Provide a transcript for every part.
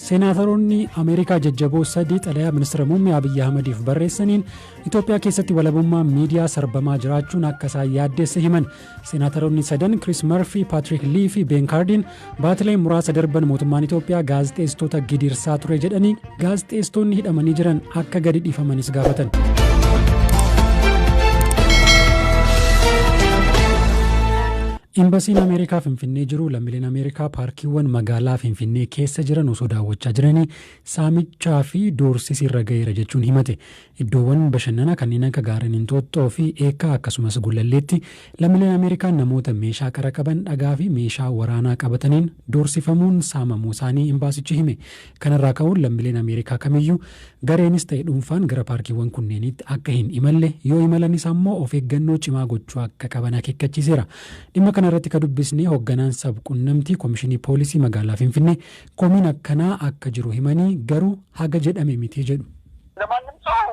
Seenaataroonni Ameerikaa jajjaboo sadii xalayaa Ministira Muummee Abiyyi Ahmadiif barreessaniin Itoophiyaa keessatti walabummaan miidiyaa sarbamaa jiraachuun akka isaan yaaddeesse himan. Seenaataroonni sadan Kiriis Marfii, Paatrik Lii fi Been Kaardiin baatilee muraasa darban mootummaan Itoophiyaa gaazexeessitoota gidirsaa ture jedhanii gaazexeessitoonni hidhamanii jiran akka gadi dhiifamanis gaafatan. Imbasiin Ameerikaa Finfinnee jiru lammileen Ameerikaa paarkiiwwan magaalaa Finfinnee keessa jiran osoo daawwachaa jiranii saamichaa fi doorsisi irra gaheera jechuun himate. Iddoowwan bashannana kanneen akka gaarreen Inxooxxoo fi Eekkaa akkasumas Gullalleetti lammileen Ameerikaa namoota meeshaa qara qaban dhagaa fi meeshaa waraanaa qabataniin doorsifamuun saamamuusaanii imbaasichi hime. Kanarraa ka'uun lammileen Ameerikaa kamiyyuu gareenis ta'e dhuunfaan gara paarkiiwwan kunneeniitti akka hin imalle, yoo imalanis ammoo of eeggannoo cimaa gochuu akka qaban akeekkachiiseera. Dhimma kana irratti ka dubbisne hogganaan sab-qunnamtii Komishinii Poolisii magaalaa Finfinnee komiin akkanaa akka jiru himanii, garuu haga jedhame miti jedhu. ለማንም ሰው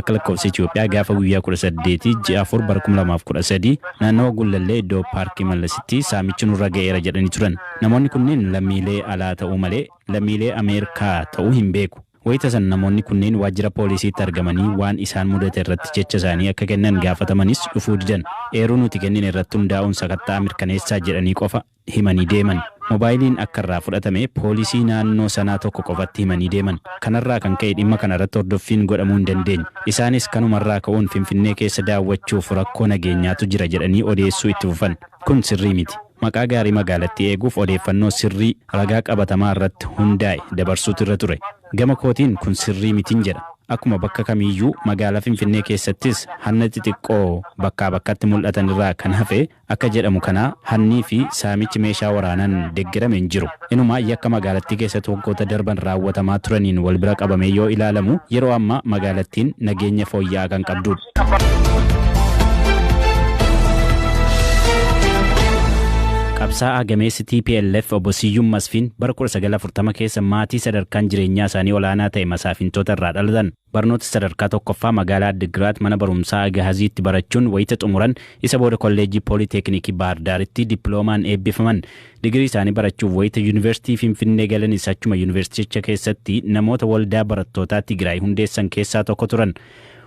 Akka lakkoofsa Itiyoophiyaa gaafa guyyaa 18 ji'a 4 bara 2013 naannawa Gullallee iddoo Paarkii Mallasitti saamichi nurra ga'eera jedhanii turan. Namoonni kunneen lammiilee alaa ta'uu malee lammiilee Ameerikaa ta'uu hin beeku. Wayita sana namoonni kunneen waajjira poolisiitti argamanii waan isaan mudate irratti jecha isaanii akka kennan gaafatamanis dhufuu didan. Eeruu nuti kennine irratti hundaa'uun sakatta'a mirkaneessaa jedhanii qofa himanii deeman. Mobaayiliin akka irraa fudhatame poolisii naannoo sanaa tokko qofatti himanii deeman. Kanarraa kan ka'e dhimma kana irratti hordoffiin godhamuu hin dandeenye. Isaanis kanuma irraa ka'uun Finfinnee keessa daawwachuuf rakkoo nageenyaatu jira jedhanii odeessuu itti fufan. Kun sirrii miti. Maqaa gaarii magaalattii eeguuf odeeffannoo sirrii ragaa qabatamaa irratti hundaa'e dabarsuutu irra ture. Gama kootiin kun sirrii mitin jedha. Akkuma bakka kamiiyyuu magaalaa Finfinnee keessattis hanna xixiqqoo bakkaa bakkatti mul'atan irraa kan hafe Akka jedhamu kana hannii fi saamichi meeshaa waraanaan deggerame hin jiru. Inumaa yakka magaalattii keessatti waggoota darban raawwatamaa turaniin wal bira qabamee yoo ilaalamu yeroo ammaa magaalattiin nageenya fooyya'aa kan qabduudha. Qabsaa'aa gameessi tplf obbo Siyyum Masfiin bara 1940 keessa maatii sadarkaan jireenyaa isaanii olaanaa ta'e masaafintoota irraa dhalatan. Barnoota sadarkaa tokkoffaa magaalaa Addiggiraat mana barumsaa Agahaziitti barachuun wayita xumuran isa booda kolleejjii Poolii Teekiniikii Baahir Daaritti dippiloomaan eebbifaman. Digirii isaanii barachuuf wayita Yuunivarsiitii Finfinnee galanis achuma yuunivarsiiticha keessatti namoota waldaa barattootaa Tigiraay hundeessan keessaa tokko turan.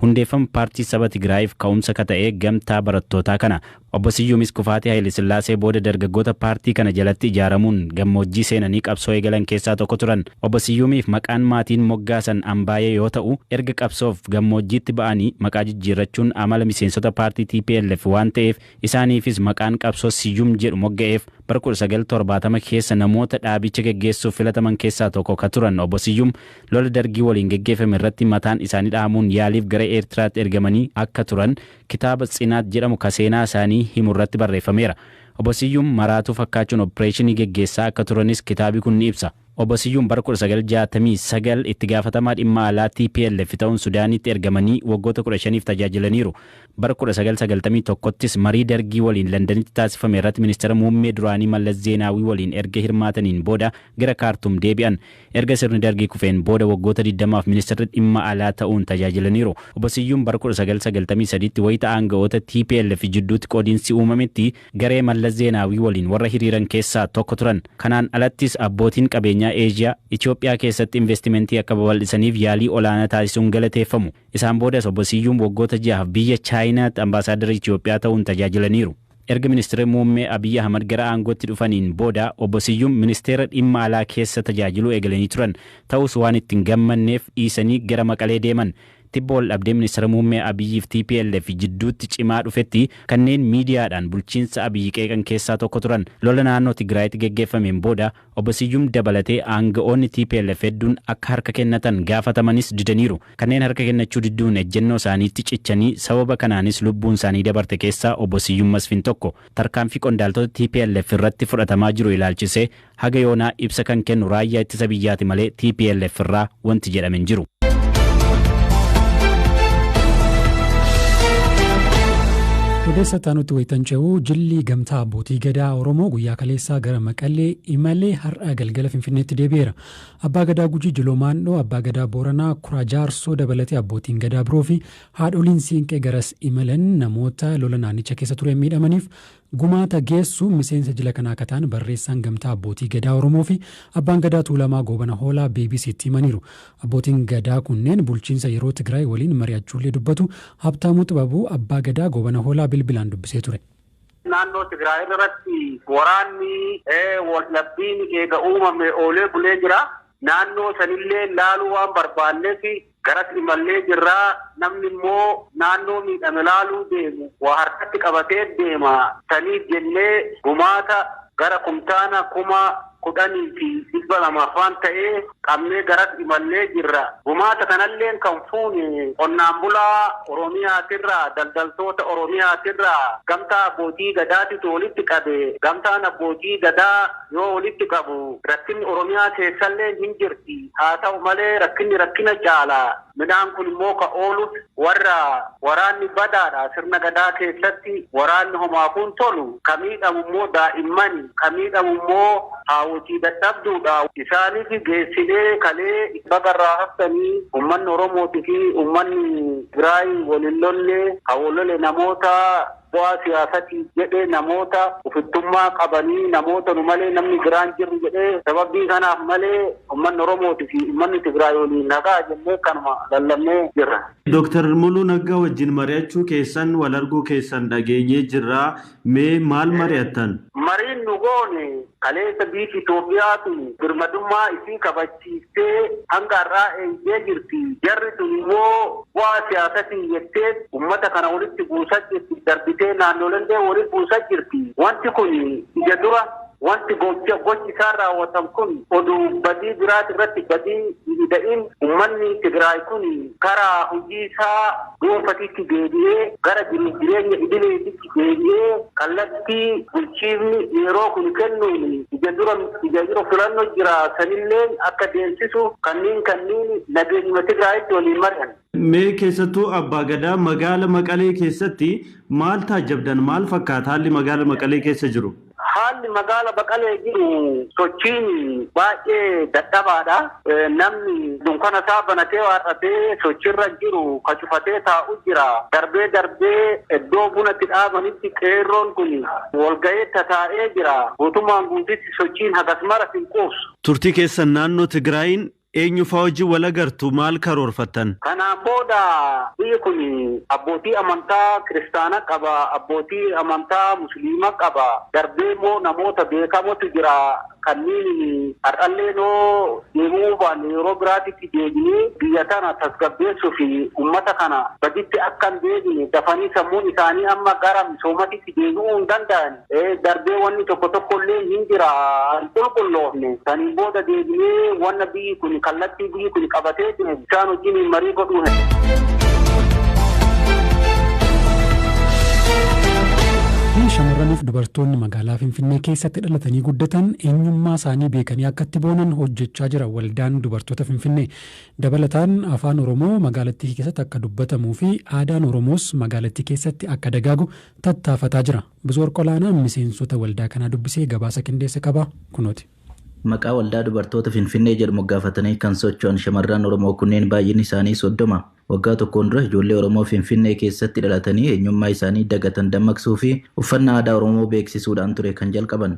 Hundeeffama paartii saba Tigiraayiif ka'umsa ka ta'e gamtaa barattootaa kana Obbo Siyyumis kufaatii Hayilesillaasee booda dargaggoota paartii kana jalatti ijaaramuun gammoojjii seenanii qabsoo eegalan keessaa tokko turan. Obbo Siyyumiif maqaan maatiin moggaasan Ambaayee yoo ta'u, erga qabsoof gammoojjiitti ba'anii maqaa jijjiirrachuun amala miseensota paartii tplf waan ta'eef isaaniifis maqaan qabsoo Siyyum jedhu mogga'eef. Bara 1970 keessa namoota dhaabicha geggeessuuf filataman keessaa tokko ka turan Obbo Siyyum lola Dargii waliin geggeeffame irratti mataan isaanii dhahamuun yaaliif gara Eertiraatti ergamanii akka turan Kitaaba Tsinaat jedhamu ka seenaa isaanii himu irratti barreeffameera. Obbo Siyyum maraatuu fakkaachuun oppireeshinii geggeessaa akka turanis kitaabi kun ni ibsa. Obbo Siyyum bara 1969 itti gaafatamaa dhimma alaa tplf ta'uun Sudaaniitti ergamanii waggoota 15f tajaajilaniiru. Bara 1991ttis marii Dargii waliin Landanitti taasifame irratti Ministira Muummee duraanii Mallas Zeenaawii waliin erga hirmaataniin booda gara Kaartum deebi'an. Erga sirni Dargii kufeen booda waggoota digdamaaf Ministirri Dhimma Alaa ta'uun tajaajilaniiru. Obbo Siyyum bara 1993tti wayita aanga'oota tplf jidduutti qoodinsi uumametti garee Mallas Zeenaawii waliin warra hiriiran keessaa tokko turan. Kanaan alattis abbootiin qabeenyaa Eeshiyaa, Itoophiyaa keessatti investimentii akka babal'isaniif yaalii olaanaa taasisuun galateeffamu. Isaan boodas Obbo Siyyum waggoota ja'aaf biyya Chaayinaatti Ambaasaaddara Itoophiyaa ta'uun tajaajilaniiru. Erga Ministirri Muummee Abiy Ahmad gara aangootti dhufaniin booda Obbo Siyyum Ministeera Dhimma Alaa keessa tajaajiluu eegalanii turan. Ta'us waan itti hin gammadneef dhiisanii gara Maqalee deeman. Tibba waldhabdee Ministira Muummee Abiyyiif tplf jidduutti cimaa dhufetti kanneen miidiyaadhaan bulchiinsa Abiy qeeqan keessaa tokko turan. Lola naannoo Tigraayitti geggeeffameen booda Obbo Siyyum dabalatee aanga'oonni tplf hedduun akka harka kennatan gaafatamanis didaniiru. Kanneen harka kennachuu didduun ejjennoo isaaniitti cichanii sababa kanaanis lubbuun isaanii dabarte keessaa Obbo Siyyum Masfin tokko. Tarkaanfii qondaaltota tplf irratti fudhatamaa jiru ilaalchisee haga yoonaa ibsa kan kennu Raayyaa Ittisa Biyyaati malee tplf irraa wanti jedhame hin jiru. Odeessa taanutti wayitan ce'u jilli gamtaa abbootii gadaa Oromoo guyyaa kaleessaa gara Maqalee imalee har'a galgala Finfinneetti deebi'eera. Abbaa gadaa Gujii Jiloo Maandhoo, abbaa gadaa Booranaa Kuraa Jaarsoo dabalatee abbootiin gadaa biroo fi haadholiin siinqee garas imalan namoota lola naannicha keessa tureen miidhamaniif Gumaata geessu miseensa jila kanaa akka ta'an barreessaan Gamtaa Abbootii Gadaa Oromoo fi Abbaan Gadaa Tuulamaa Goobana Hoolaa BBC'tti himaniiru. Abbootiin Gadaa kunneen bulchiinsa yeroo Tigraay waliin mari'achuullee dubbatu. Habtaamuu Xibabuu Abbaa Gadaa Goobana Hoolaa bilbilaan dubbisee ture. Naannoo Tigraay irratti waraanni waldhabbiin eega uumamee oolee bulee jira. Naannoo sanillee laaluu waan barbaanneef Garas imallee jirra. Namni immoo naannoo miidhame laaluu deemu waa harkatti qabatee deema. Saniif jennee gumaata gara kumtaana kuma kudhanii fi dhibba lama faan ta'e qabnee garas imallee jirra. Gumaata kanalleen kan fuune qonnaan bulaa Oromiyaatirraa, daldaltoota Oromiyaatirraa, Gamtaa Abbootii Gadaatitu walitti qabe. Gamtaan Abbootii Gadaa. yoo walitti qabu rakkinni Oromiyaa keessalleen hin jirti. Haa ta'u malee rakkinni rakkina caala. Midhaan kun immoo ka ooluf warra waraanni badaadha. Sirna Gadaa keessatti waraanni homaafuu hin tolu. Ka miidhamu immoo daa'immani. Ka miidhamu immoo haawwotii dadhabduudha. Isaanif geessinee kalee baga irraa haftanii ummanni Oromootifi ummanni Tigiraay wal hin lolle. Ka wal lole namoota. bu'aa siyaasati jedhe namoota ufittummaa qabanii namoota nu malee namni biraan jirru jedhee sababbii kanaaf malee ummanni Oromooti fi ummanni Tigraay waliin nagaa jennee kanuma lallabnee jirra. Dr. Muluu Naggaa wajjin mari'achuu keessan, wal arguu keessan dhageenyee jirra. Mee maal mari'attan? Mariin nu goone kaleessa biiti Itoophiyaatu birmadummaa isii kabajjee, barsiiftee hanga har'aa eeydee jirti. Jarri sun immoo bu'aa siyaasatiin jettee ummata kana walitti buusaa jirti. Darbitee naannoolellee wali buusaa jirti. Wanti kun ija dura wanti gocha gochi isaan raawwatan kun oduu badii biraati irratti badii hin ida'in ummanni Tigraay kun karaa hojii isaa dhuunfatitti deebi'ee gara jiruuf jireenya idileetitti deebi'ee kallattii bulchiifni yeroo kun kennuun ija dura ija dura filanno jira sanilleen akka deemsisu kanniin kanniin nageenyuma Tigraayitti waliin mari'anne. Mee keessattuu Abbaa Gadaa magaala Maqalee keessatti maal taajjabdan? Maal fakkaata haalli magaala Maqalee keessa jiru? Haalli magaala Maqalee jiru sochiin baay'ee dadhabaadha. Namni dunkana isaa banatee waar'atee sochirra jiru ka cufatee taa'u jira. Darbee darbee iddoo buna itti dhaabanitti qeerroon kun walga'ee tataa'ee jira. Guutummaan guutitti sochiin hagas maras hin quubsu. Turtii keessan naannoo Tigraayiin Eenyu faa wajjin wal agartu? Maal karoorfattan? Kanaan booda biyyi kun abbootii amantaa kiristaana qaba, abbootii amantaa musliima qaba, darbee immoo namoota beekamotu jira kanniinin har'alleen hoo deebi'uu baanne yeroo biraatitti deebinee biyya tana tasgabbeessu fi ummata kana baditti akka hin deebine dafanii sammuun isaanii amma gara misoomatitti deebi'uu hin danda'an. Ee, darbee wanni tokko tokkolleen hin jira hin qulqulloofne. Saniin booda deebinee wanna biyyi kun kallattii biyyi kun qabatee jiru isaan wajjiniin marii godhuu hin. Biyyi shamarraniif dubartoonni magaalaa Finfinnee keessatti dhalatanii guddatan eenyummaa isaanii beekanii akka itti boonan hojjechaa jira waldaan dubartoota Finfinnee. Dabalataan afaan Oromoo magaalattii keessatti akka dubbatamuu fi aadaan Oromoos magaalattii keessatti akka dagaagu tattaafataa jira. Bisoor Qolaanaan miseensota waldaa kanaa dubbisee gabaasa qindeesse qaba. Kunooti. Maqaa Waldaa Dubartoota Finfinnee jedhu moggaafatanii kan socho'an shamarran Oromoo kunneen baay'inni isaanii 30. Waggaa tokkoon dura ijoollee Oromoo Finfinnee keessatti dhalatanii eenyummaa isaanii dagatan dammaqsuu fi uffannaa aadaa Oromoo beeksisuudhaan ture kan jalqaban.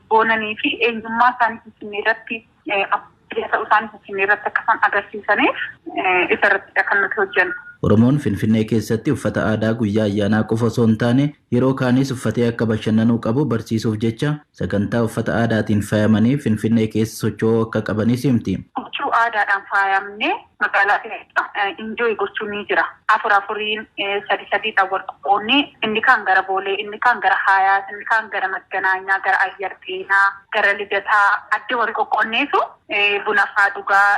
boonanii fi eenyummaa isaanii Finfinnee irratti abbaa ta'uu isaanii Finfinnee irratti akka isaan agarsiisaniif isa irrattidha kan nuti hojjennu. Oromoon Finfinnee keessatti uffata aadaa guyyaa ayyaanaa qofa osoo hin taane yeroo kaaniis uffatee akka bashannanuu qabu barsiisuuf jecha sagantaa uffata aadaatiin faayamanii Finfinnee keessa socho'uu akka qabanis himti. Huccuu aadaadhaan faayamnee Magaalaa keessa enjoy gochuun ni jira. Afur afuriin, sadi sadiidhaan wal qoqqoodnee inni kaan gara Boolee, inni kaan gara Haayaat, inni kaan gara Magganaanyaa, gara Ayyar Xeenaa, gara Lidataa adda wal qoqqoodneetu buna faa dhugaa.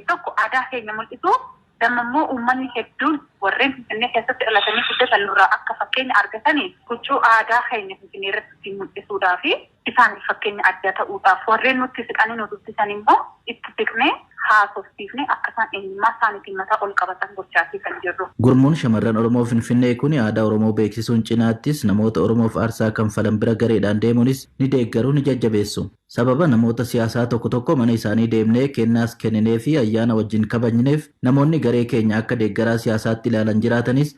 Tokko aadaa keenya mul'isu, damma immoo uummanni hedduun warreen Finfinnee keessatti dhalatanii guddatan nurraa akka fakkeenya argatanii huccuu aadaa keenya Finfinnee irratti ittiin mul'isuudhaafi. Isaaniif fakkeenya addaa ta'uudhaaf, warreen nutti siqanii nu dubbisan immoo itti siqnee haasofsiifnee akka isaan eenyummaa isaaniitiin mataa ol qabatan gochaafii kan jirru. Gurmuun Shamarran Oromoo Finfinnee kun aadaa Oromoo beeksisuun cinaattis namoota Oromoof aarsaa kanfalan bira gareedhaan deemuunis ni deeggaru, ni jajjabeessu. Sababa namoota siyaasaa tokko tokko mana isaanii deemnee kennaas kennineefii ayyaana wajjin kabajneef namoonni garee keenya akka deeggaraa siyaasaatti ilaalan jiraatanis,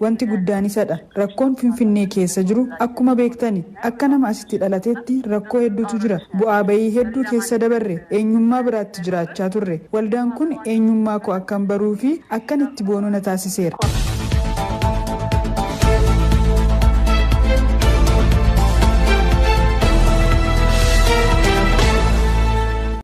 Wanti guddaan isa dha. Rakkoon Finfinnee keessa jiru akkuma beektani, akka nama asitti dhalateetti rakkoo hedduutu jira. Bu'aa ba'ii hedduu keessa dabarre. Eenyummaa biraatti jiraachaa turre. Waldaan kun eenyummaa koo akkan baruu fi akkan itti boonu na taasiseera.